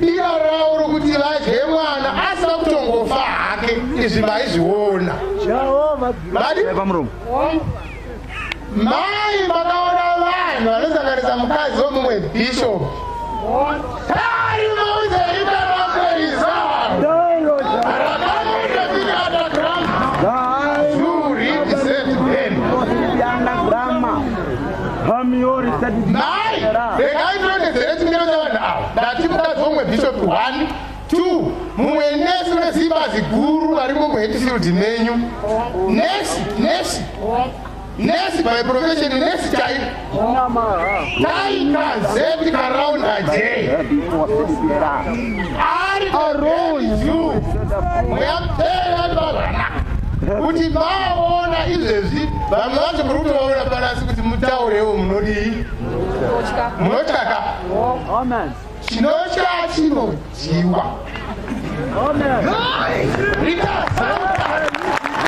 Diva ravo rokuti vadye mwana asina kutongofa hake izvi maizviona. Mai makaona vanhu vanosanganisa mukadzi wemumwe bishop. Mai, regai ndinodedzere chimiro chavanhu ava. Ndati mukadzi womwe bishop one, two, mumwe nesi wezibazi guru vari mumuhetfield menyu. Nesi, nesi, nesi by profession, nesi chai. Taika zeti karaunda jei. kuti vaona izvezvi vanhu vacho muri kutovaona panasi kuti mutaurewo munodii munotyaka chinotya chinodyiwa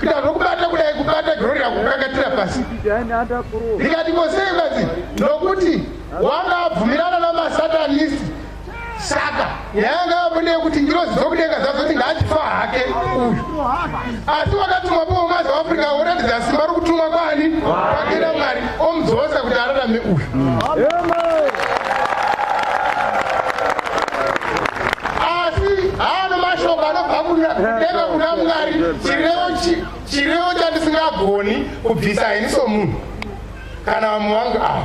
Kuda zvokubata kudai kubata Gloria kukakatira pasi. Ndikati ko sei mukadzi? Nokuti wanga abvumirana namasatanist. Saka yanga yamune kuti ngirozi dzokudenga dzazoti ngaachifa hake uyu. Asi wakatumwa pomwe maZouth Africa woratidza simba rokutumwa kwani? Kwakira Mwari. omudzosa kuti ararame uyu asi haano mashoko anobva kudenga kuna mwari chirevo chandisingagoni kubvisa ini somunhu kana vamwe vangu ava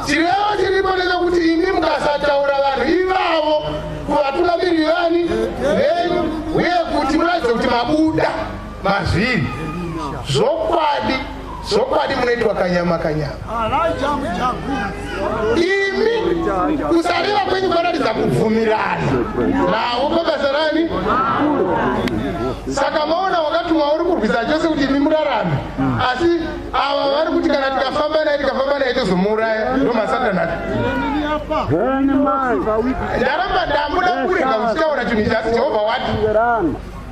chirevo chiripo nechekuti imi mukasataura vanhu ivavo kuvatungamiriri vani venyu uye kuti muratidze kuti mabuda Mazviri. Zvokwadi. Zvokwadi munoitwa kanyama kanyama. Imi kusarira kwenyu kwanoratidza kubvumirana navo pabasa rani. Saka maona wakatumwa uri kurwisa chose kuti imi murarame. Asi ava vari kuti kana tikafamba naye tikafamba naye tozomuuraya ndomasatana. Ndaramba ndamuda kurega kuchitaura chinhu ichi asi Jehovha wati.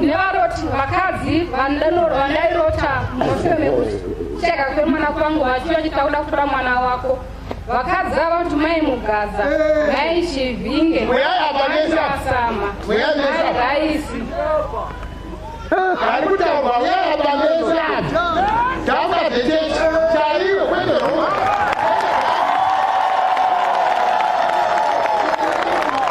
nevaroti vakadzi vandairota mushure mekuti cheka kwemwana kwangu vachiva chitakuda kutora mwana wako vakadzi ava kuti mai mugaza mai chivinge maiasama mai raisi ari kutaurwa uyaya pamesa taura zvechechi chaiyo kwete roma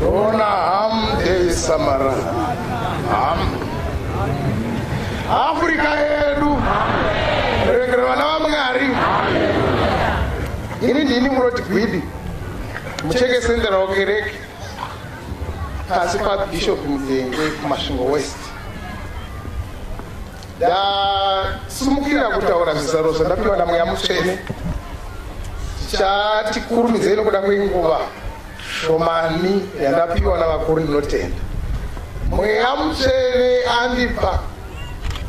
Dona ham de samara ham Afrika yedu regera vana vamwari ini ndini muroti gwidi mucheke sendera wakereke pasi pabishop mudenge kumasvingo west ndasumukira kutaura zvizaro zvandapiwa namweya mutsvene tichati kurumidzei nokuda kwenguva shomani yandapiwa navakuru ndinotenda mweya mutsvene andipa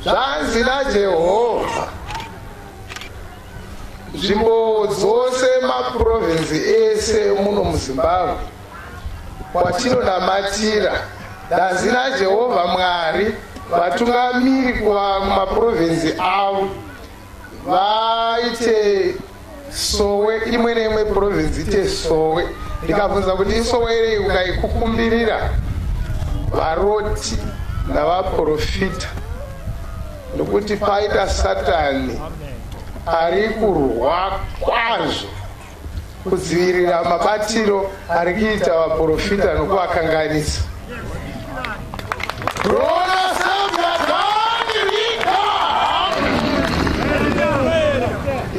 zvanzi najehovha nzvimbo dzose mapurovinzi ese muno muzimbabwe Kwatinonamatira, danzi raJehovha Mwari, vatungamiri kumapurovhinzi avo vaite sowe imwe neimwe purovhinzi ite sowe ndikabvunza kuti isowe irei ukaikukumbirira varoti navaprofita nokuti paita satani ari kurwa kwazvo kudzivirira mabatiro ari kuita vaprofita nokuvakanganisa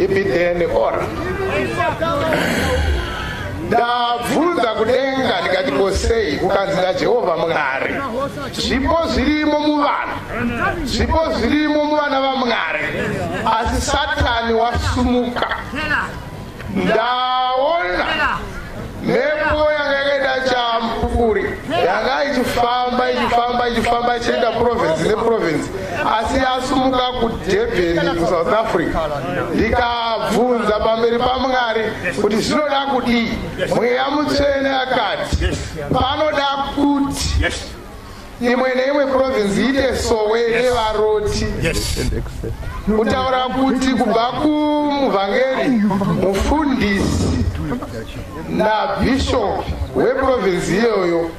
ibidhene ora ndabvunza kudenga ndikati kosei kukanzi najehovha mwari zvipo zvirimo muvana zvipo zvirimo muvana vamwari asi satani wasumuka ndaona mhepo yanga yakaita champupuri yanga ichifamba ichifamba ichifamba ichienda province neprovince asi yasumuka kudebheni kusouth africa ndikabvunza pamberi pamwari kuti zvinoda kudii mweya mutsvene akati panoda kuti imwe neimwe province iite sowe nevaroti kutaura kuti kubva kumuvhangeri mufundisi nabhishop weprovince iyoyo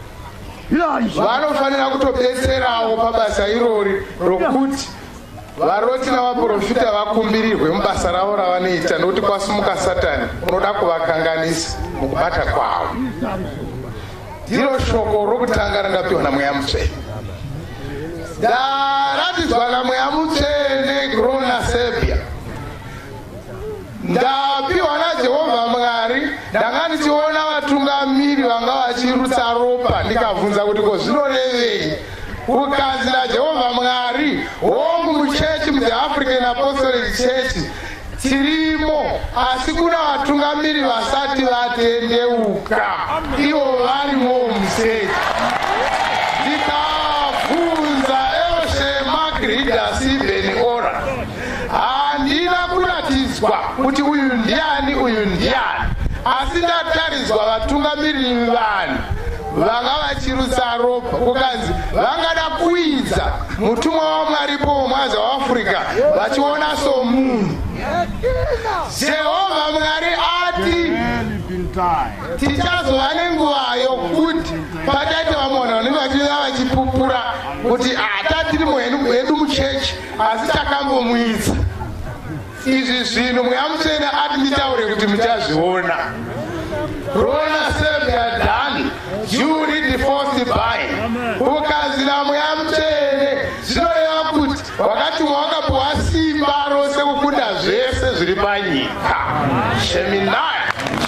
vanofanira kutobetserawo pabasa irori rokuti varoti navaprofita vakumbirirwe mubasa ravo ravanoita nokuti kwasumuka satani unoda kuvakanganisa mukubata kwavo ndiro shoko rokutanga randapiwa namweya mutsvene ndaratidzwa namweya mutsvene grona serbia ndapiwa najehovha mwari ndanga ndichiona vatungamiri vanga vachirutsa ropa ndikabvunza kuti ko zvinorevei kukanzi najehovha mwari hongu muchechi mutheafrican apostolic church Tirimo asi kuna vatungamiri vasati vatendeuka ivo varimo museti ndikabvunza else magridas even ora handina kuratidzwa kuti uyu ndiani uyu ndiani asi ndatariswa vatungamiri vanhu vanga vachirutsa ropa kukanzi vangada kuidza mutumwa wamwaripo womwaza waafrica vachiona somunhu jehovha mwari ati tichazova nenguvayo kuti pataite vamona vanenge vachia vachipupura kuti hata ah, tiri muhedu muchechi asi takambomuidza izvi zvinhu muyamutsvene ati nditaure kuti muchazviona rona sevyadan you read the first by ukazira muyamutsvene zvinoreva kuti wakatumwa wakapuwa simba rose kukunda zvese zviri panyika sheminai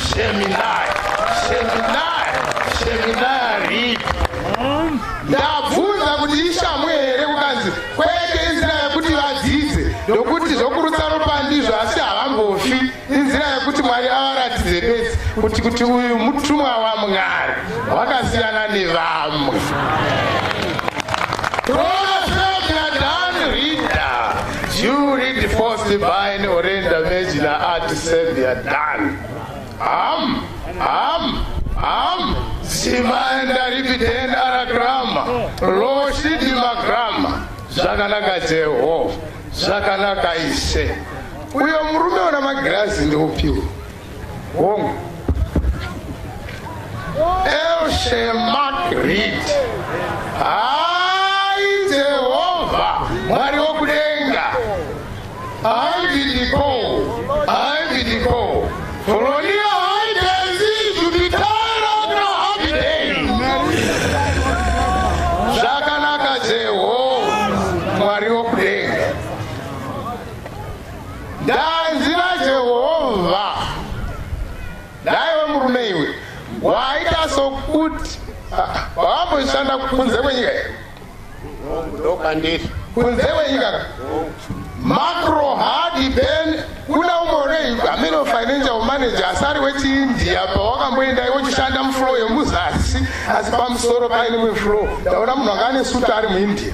sheminai sheminai sheminai rip ndabvunza kuti ishamwe Kwete inzira yekuti vadzidze ndokuti zvokurutsa ropa ndizvo asi havangofi inzira yekuti mwari avaratidze bedzi kuti kuti uyu mutumwa wamwari wakasiyana nevamwe You read first by an Orenda Mejina Art Savior Dan. Am, am, am, Simanda ripitenda aragrama, loshidi magrama, zvakanaka Jehovha, zvakanaka ise. Uyo murume ona magirazi ndiupiwo. Hongu. Else Mark Reed. Ah! Handidiko, handidiko. Foronia haigezi zvitara na Abidei. Zvakanaka Jehovha, Mwari wokudenga. Ndanzira Jehovha. Daiwe murume iwe, waita sokuti ah, wamboshanda kunze kwenyika here? ndopandiri kunze kwenyika macro haadi ben kuda umore amene financial manager asari wechiindia pawakamboenda iwochishanda muflow yemuzasi asi pamusoro paine muflow ndaona munhu anga ane suta ari muindia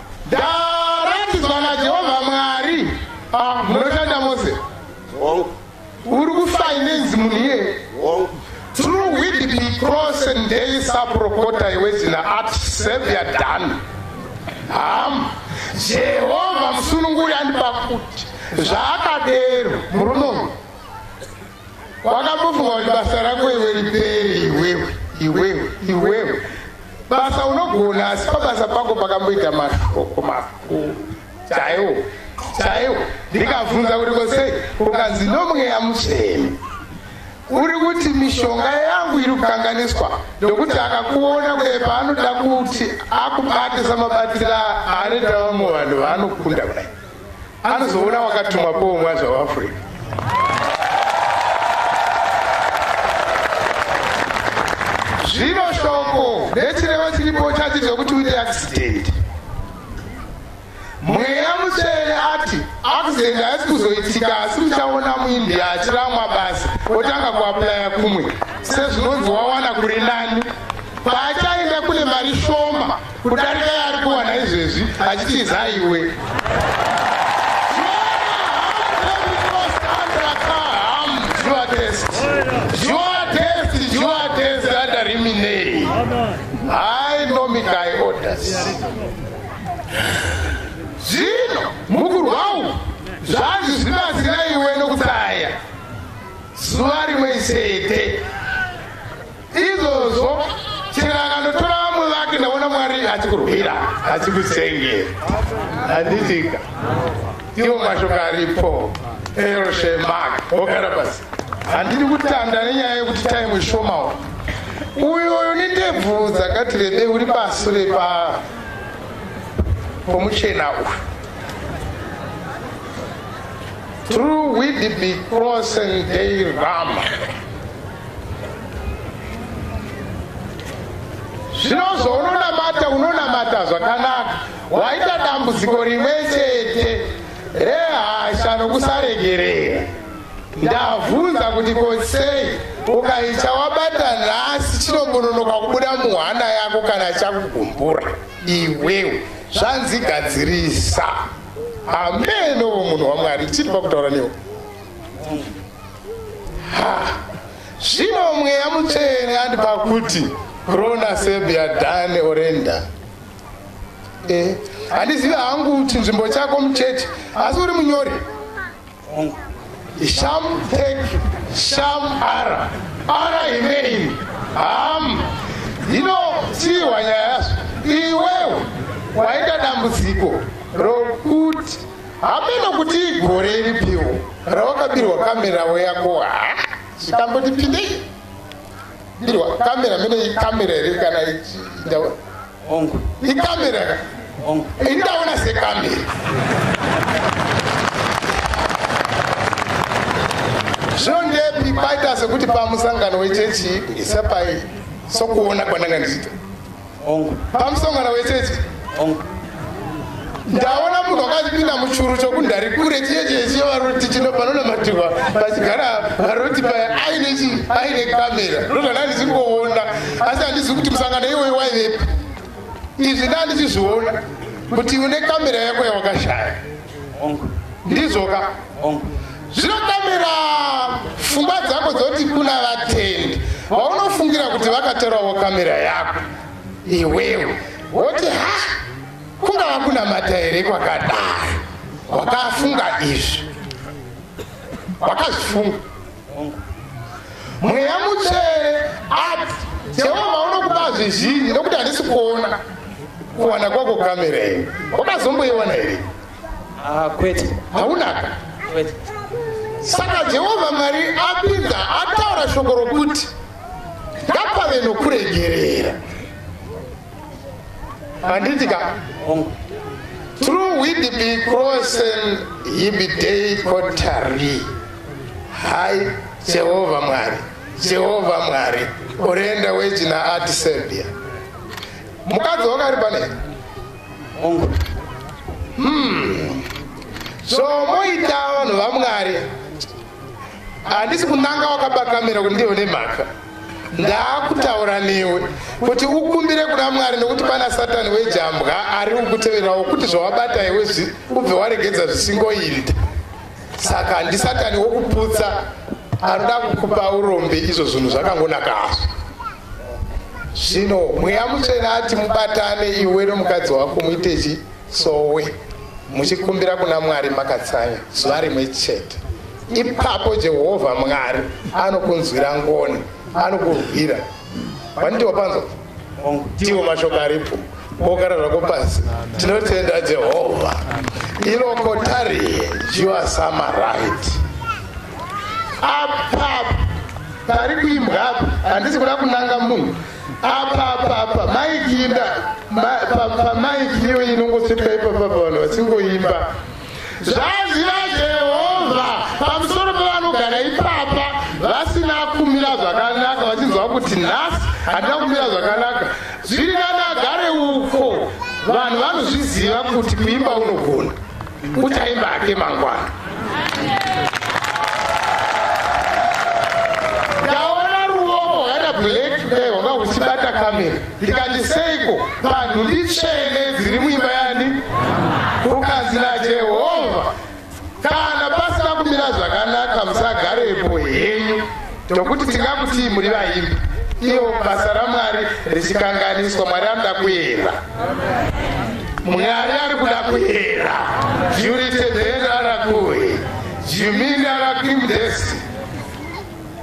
Ndaratidzwa naJehovha Mwari. Ah, munoshanda mose. Wrong. Uri kufinance munhu iye. Wrong. Through Whitby Cross and Daily Saprokota iwe zina at Savior Dan. Ham. Jehovha musununguri andipa kuti zvaakadero murume uyu. wakambofunga kuti basa rako iwe ripere iwewe iwewe iwewe basa unogona asi pabasa pako pakamboita mashoko makuru chaiwo chaiwo ndikabvunza kuti kosei ukanzi nomweya mutsvene uri kuti mishonga yangu iri kukanganiswa ndokuti akakuona kuye paanoda kuti akubate samabatira anoita vamwe vanhu vanokunda kudai Anozoona wakatuma powo mwaza waAfrica. Zvino shoko rechireva chiripo chati zvekuti uite accident. Mweya mutsvene ati accident haisi kuzoitika asi uchaona muIndia achiramwa basa otanga kuaplaya kumwe sezvinonzi wawana kuri nani. Paachaenda kune mari shoma Kudarika yaari kuwana izvezvi achitiza iwe. Zvino mukurwawo zvanzi zvibatsira iwe nokutsaya zuva rimwe chete. Izvozvo chero akandotora vamwe vake ndaona Mwari achikurwira achikusenge. Handitika. Iwo mashoko aripo. Eroshe Mark, wogara pasi. Handidi kutanda nenyaya yekuti time ishomawo. Uyo uyo nendebvu dzakati rebe uri pasi repa pomuchena uyu. Through we be crossing day rama. zvino zvounonamata unonamata zvakanaka waita dambudziko rimwe chete rehasha nokusaregerera ndavhunza kuti kosei ukaicha wabata nhasi chinobononoka kubuda muhana yako kana chakugumbura iwewe zvanzi gadzirisa hameno munhu wamwari chiri pakutaura newe zvino mweya mutsvene andipa kuti rona sebia dane orenda eh, handizivi hangu kuti nzvimbo chako mucheche asi uri munyori sham tek sham ara ara imeini ham hino chihwa nyaya yazvo iwewe waita dambudziko rokuti Hameno kuti igore ripiwo rawakabirwa kamera wo yako ha zvikamboti pindei birwa kamera mene ikamera here kana ndaona hongu ikamera ka hongu indaona sekamera zvino ndepi paita sekuti pamusangano wechechi isapai sokuona kwandanga ndichiita Hongu. Pamusongano wechechi. Hongu. Ndaona munhu wakazipinda muchuru chokundari kure chiye chiye chiye varoti chino panonamatirwa pachigara varoti paya aine chi aine kamera ndozvana ndisingoona asi handizivi kuti musangano iwoyo waivepi izvi ndandichizviona kuti une kamera yako yawakashaya ndizvoka zvinokamira fungwa dzako dzoti kuna vatendi vaunofungira kuti vakatorawo kamera yako iwewe woti ha kungava kunamata here kwakadai wakafunga izvi wakazvifunga mweya mutsvene ati jehovha unokupa zvizhinji nokuti handisi kuona kuwana kwako kamera iyi wakazomboiona here ah, kwete haunaka saka jehovha mwari apinda ataura shoko rokuti ngapave nokuregerera handiti ka through widb crossel yibidei kotari hai jehovha mwari jehovha mwari orenda wejina ati serbia mukadzi wakari pane hmm. so moita vanhu vamwari Handisi kunanga wakaba kamera kuti ndione mhaka. Ndaakutaura newe kuti ukumbire kuna Mwari nekuti pana Satani wejambwa ari kukuteverawo kuti zvawabata iwe zvi ubve waregedza zvisingoinda. Saka handi Satani wokuputsa anoda kukupa urombe izvo zvinhu zvakangonaka hazvo. Zvino mweya mutsvene ati mubatane iwe nomukadzi wako muite chi sowe muchikumbira kuna Mwari makatsanya zuva rimwe chete. ipapo jehovha mwari anokunzwira ngoni anokurwira vaniti wapanzwa tiwo mashoko aripo wogara zvako pasi tinotenda jehovha iloko tarie jiwasama right apapa pari kuimbwa apa handisi kuda kunanga munhu apapapa maikinda pamaiki iyo inongosvika ipapapa vanhu vasingoimba Zvanzi naJehovha pamusoro pevanogara ipapa vasina kumira zvakanaka, vachinzwa kuti nhasi handina kumira zvakanaka, zviri nani agare uko. Vanhu vanozviziva kuti kuimba unogona, uchaimba hake mangwana. Ndaona ruoko hwakaita black dai hwanga huchibata kamera. Ndikati seiko panhu nditsvene dziri muimba yani? Ukanzi naJehovha, kana pasina kumira zvakanaka musagarepo henyu, tokuti tingakutii muri vaimbi? Iyo basa raMwari richikanganiswa, Mwari anoda kuera. Mwari ari kuda kuera. Jurite dera rakuhi. Jimini arakimdesi.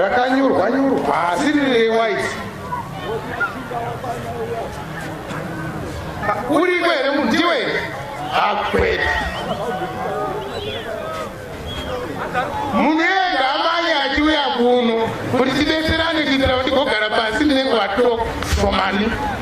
rakanyurwa nyurwa asi riri rewaiti uriko here munhu ndiwe here akwete munhu ega amanye achiuya kuno kuti tidetserane kuitira kuti gogara pasi ndinenge vatoko somani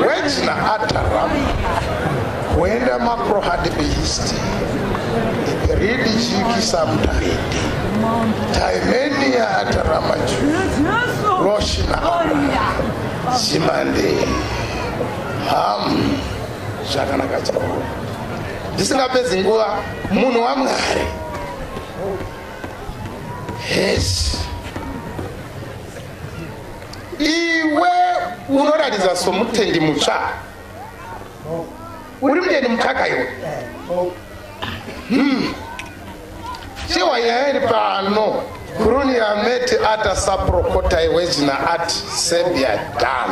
Wechna atara kuenda makro hard beast read chiki samtaidi taimenia atara maju loshna zimande ham zvakanaka chaiko ndisingapedzi nguva munhu wamwari hesi iwe unoratidza somutendi mutsva uri mutendi mutsvaka iwe hmm. chewa nyaya iri pano kuruni yameti ata saprokota iwe zina at serbia dan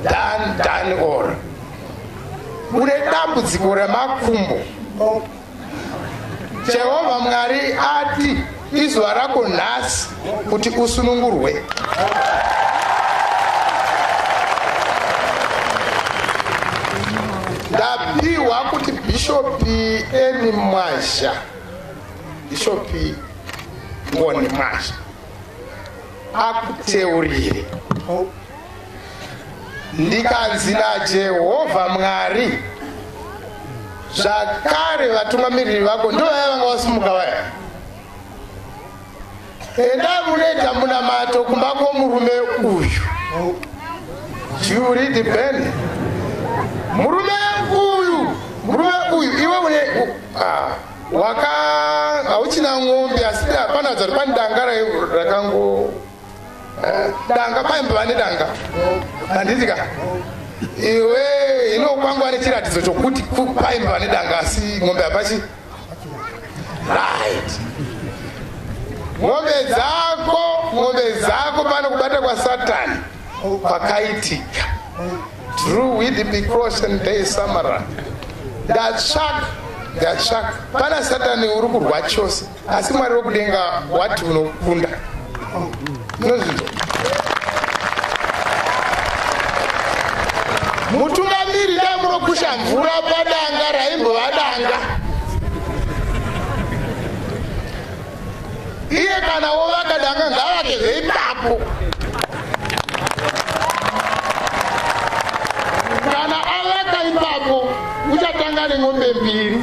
dan dan or une dambudziko remakumbo Jehovha Mwari ati, Izuva rako nhasi kuti usunungurwe. Ndapiwa kuti Bhishopi Eni Mwazha, Bhishopi Ngoni Mwazha akuteurire. Ndikanzi naJehovha Mwari, zvakare vatungamiriri vako ndivo vaya vanga vasimuka vaya enda munoita munamato kumba kwomurume uyu juridi ben murume uyu murume uyu iwe une ah, waka hauchina ng'ombe asi hapana zvari pandanga rakango danga paimba vane danga handiti ka iwe inokwangwa nechiratidzo chokuti paimba vane danga asi ng'ombe hapachi right ng'ombe dzako ng'ombe dzako pano kubata kwasatani kwakaitika through widb crossen day samara ndatsvaka ndatsvaka pana satani uri kurwa chose asi mwari wekudenga wati unokunda nozvinzwa mutungamiri dai munokusha mvura padanga raimbova danga iye kana wovaka danga ngavake zveipapo kana avaka ipapo uchatanga nen'ombe mbiri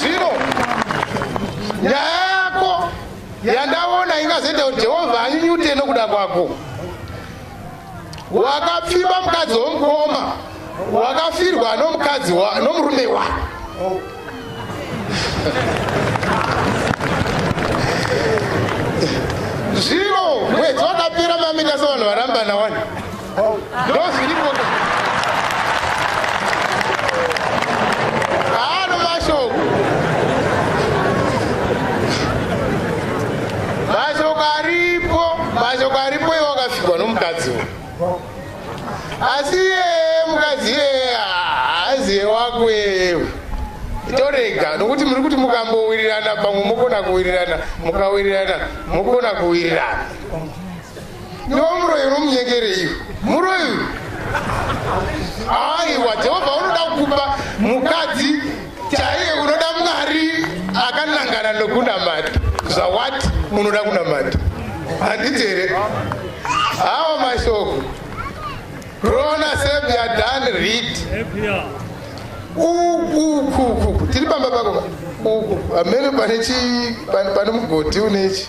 zvino nyaya yako yandaona ingazoita kuti jehovha anyunyute nokuda kwako wakapfimba mukadzi womukoma wakafirwa nomukadzi nomurume wako zvino mwedzi wakapera mamita sevanhu varambana wani ndozviripo haano mashoko mashoko aripo mashoko aripo iwo akafikwa nomukadzi uyu asi iyeye mukadzi iyeye haaziye wako iyeyewe torega nokuti muri kuti mukambowirirana pamwe mokona kuwirirana mukawirirana mokona kuwirirana ndomuroyi unomunyengereiwo muroyi aiwa jehovha unoda kukupa mukadzi chaiye unoda mwari akanangana nokunamata zvawati munoda kunamata handiti here hawo mashoko rona sebyadani rit ukukuku tiri pamba pako uku amene pane mugoti unechi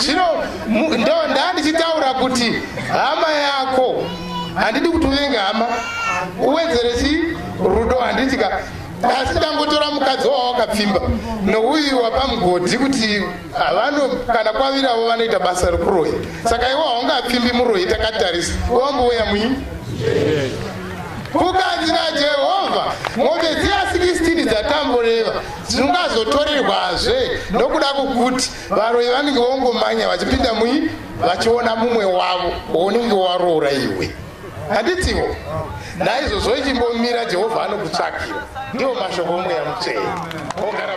zvino ndo ndandichitaura kuti hama yako handidi kuti unenge hama uwedzere chi rudo handitika asi tangotora mukadzi wavo wakapfimba nouyu wapamgodhi kuti havano kana kwaviravo vanoita basa rekurohi saka iwo haungapfimbi murohi takatarisa wambouya muini Kukanzi naJehovha, mombe dziya 16 dzatamboreva dzingazotorerwazve nokuda kwokuti varoyi vanenge vongomanya vachipinda mui vachiona mumwe wavo wounenge waroora iwe handitsivo naizvozvo ichimbomira jehovha anokutsvakira ndiwo mashoko omweya mutsvene ogara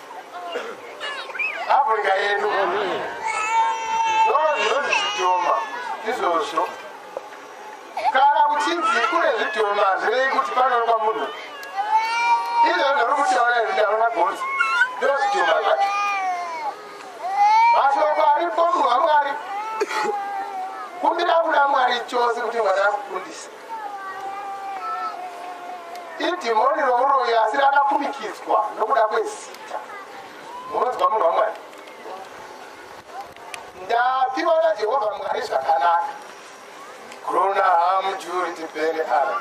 Africa yedu ndozvinozvichitoma izvozvo kana kuchinzi kune zvidhoma zvirei kuti panoonekwa munhu izvo ndiri kutaura zvidaro mabhonzi ndozvidhoma zvacho mashoko aripo munhu wamwari kumbira kuna mwari chose kuti mwana akufundisa idhimoni romuroyi asi rakakumikidzwa nokuda kwezita munonzwa munhu wamwari ndapiwa najehovha mwari zvakanaka grona hamjuri tipene ara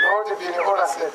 noti bini oraset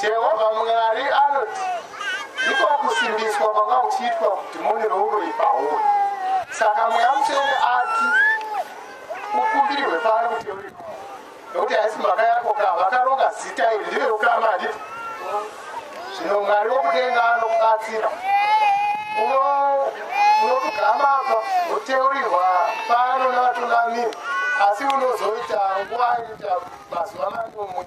Jehovha Mwari anoti, Ndiko kusimbiswa kwanga kuchiitwa kuti mune rouroyi pauri. Saka Mweya Mutsvene ati ukumbirwe pano kuti uriko, nokuti haisi mhaka yako ka vakaronga zita iri ndiro rokama handiti? Zvino Mwari wokudenga anokubatsira. Uno- Unotugama apa woteurirwa pano navatungamiri, asi unozoita nguva inoita mazuva manomwe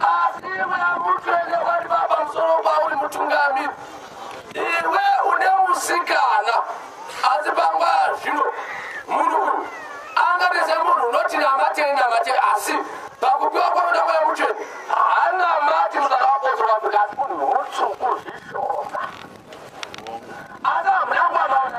Asi iwe amukene wari papamusoro pauri mutungamiri, iwe une musikana asi panguva zvino munhu uyu angaite semunhu unoti namatei namatei asi pakupiwa kwanoda mweya mutsvene haana mati musaka wakotsora kuti asi munhu mutsvuku zvishoma asi hamuna kuwamaona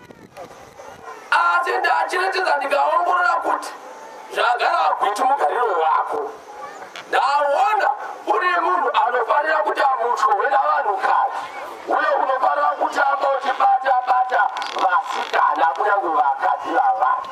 asi ndachiratidza ndikaongorora kuti zvagara agwiti mugariro wako ndaona uri munhu anofanira kuti amutswe wena vanhukadzi uye unofanira kuti ambochibata bata vasikana kunyange vakadzi vavana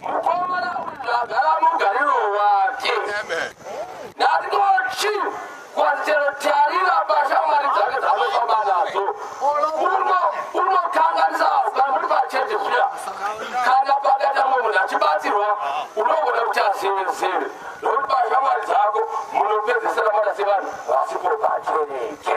Mukomana uyu zvagara mugariro wake. Ndatoti kwachero tarira pashamwari dzake dzanofamba nadzo. Uno unokanganisa pamuri pachete zviya. Kana pakaita mumwe munhu achibatsirwa unogona kuti azevezeve. Nokuti pashamwari dzako munopedzesera mwana sevanhu vasipo pachereche.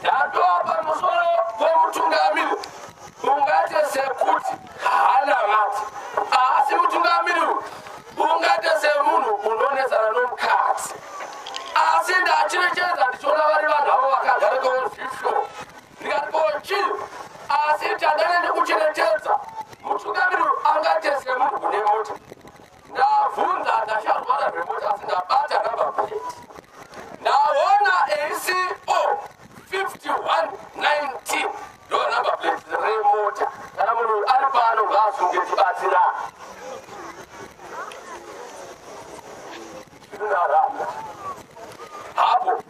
Ndatoa pamusoro pemutungamiri ungate sekuti haana vati asi mutungamiri ungate semunhu unonetsana nomukadzi asi ndacherechedza ndichiona vari vanhu avo vakagara kweozviflo ndikati kochii asi tandane ndikucherechedza mutungamiri angate semunhu une mota Ndabvunza ndasharwara zvemota sindabata number plate. Ndaona ACO 5119 ndo number plate remota. Kana munhu ari pano ngaasunge tibatsira. Zvinhu zvaramba. Hapo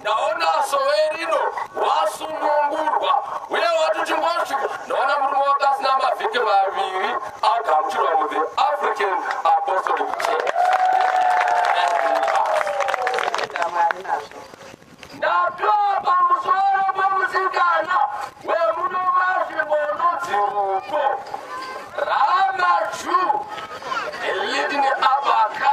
ndaona sowe rino wasunungurwa uye wati uchingosvika ndaona murume wake asina mavhiki maviri agamuchirwa muthe african apostolic church ndatoa pamusoro pomusikana wemuno mazvimbono dziruko ramaju elidini abaka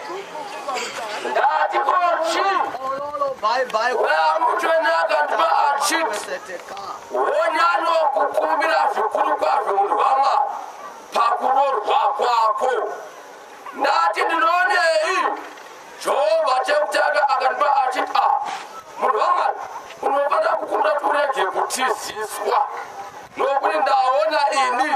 wonyano kukumbira zvikuru kwazvo murwama pakunorwa kwako ndati ndinonei jehovha chekutanga akandipa achiti a murwama unofanira kukumbira kuti urege kutiziswa nokuti ndaona ini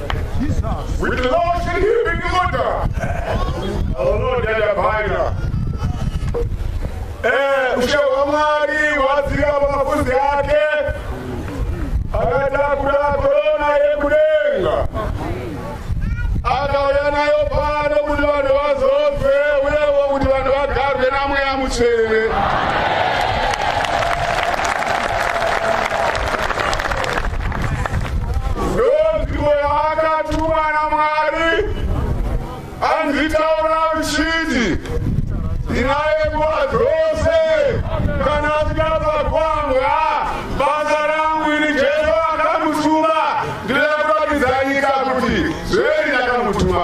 With the Lord shall he be delivered. Our Lord yadabhaira. Eh, ushe hwaMwari hwadzika pamafuzi ake akatakura korona yekudenga akauya nayo pano kuti vanhu vazobve uyewo kuti vanhu vagarwe namweya mutsvene ndonzwiko yavakatumwa namwari anzitaura uchiti ndinaye nguva dzose kana asikabva kwanga basa rangu ini jesu akamutuma ndinoda kuratidza nyika kuti zveri ndakamutuma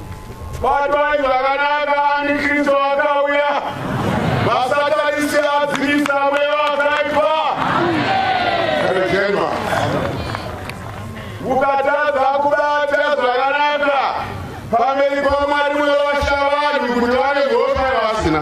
Batwai zvakanaka ani Kristu akauya. Masatanisi adzivisa mweya wakaipa. Rekenwa. Mukatadza kubata zvakanaka pamberi paMwari munovasha vanhu kuti vane mhosva yavasina.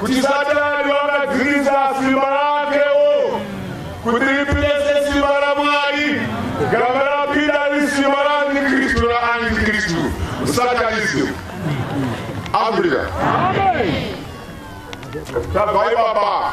kuti satani wakadzivisa simba rakewo kuti ripirese simba ramwari gamba rapira risimba raantikristu raantikristu satanism africa tabva ipapa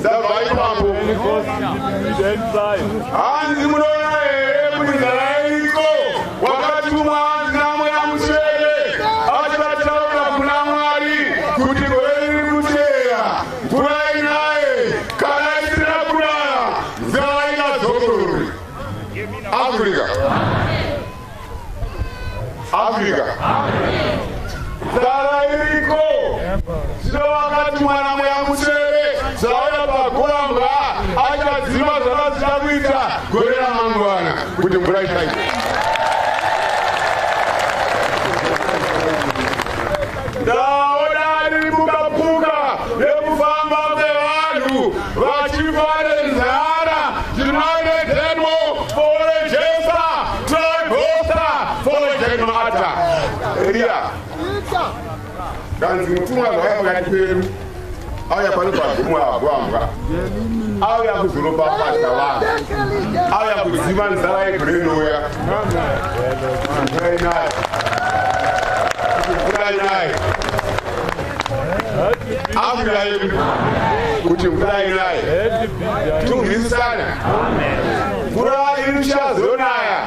ndabva ipapo hanzi munoona here kuti ndarairiko wakatumwa hanzi namweya musere achivataura kuna mwari kuti gore riri kuteera mvura inaye kana isina kunaya mvura inazogorori africa Africa. Zara iriko. Sino wakati mwana mweya musere zauya pagomba achadzima zvavasina kuita gore ramangwana kuti mvura ichaita. Ndaona riri mukapuka nekufamba kwevanhu vachifa nenzara United Demo for a Jesa Tribosta for a Genmata Eria Kanzi mutumwa zvakakati pedu auya pano pagumo agwambwa auya kuzoropafadza vanhu auya kuziva nzara yegorenouya ainayo mvura inayo akuda yedu kuti mvura inayo tungisisana mvura iri ichazonaya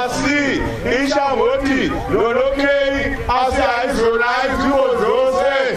asi ichangoti nonokei asi haizonayi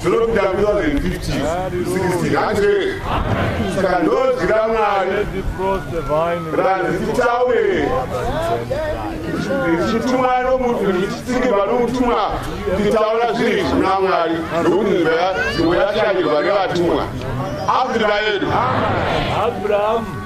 zvinopinda 2015 hanzvee saka ndozwi ramwari randichitaure ndichitumwa nomutu ndichitsingiva nomutumwa nditaura zvinhu izvi muna mwari nokuti nzvimbo yashandurwa nevatumwa abraham yedu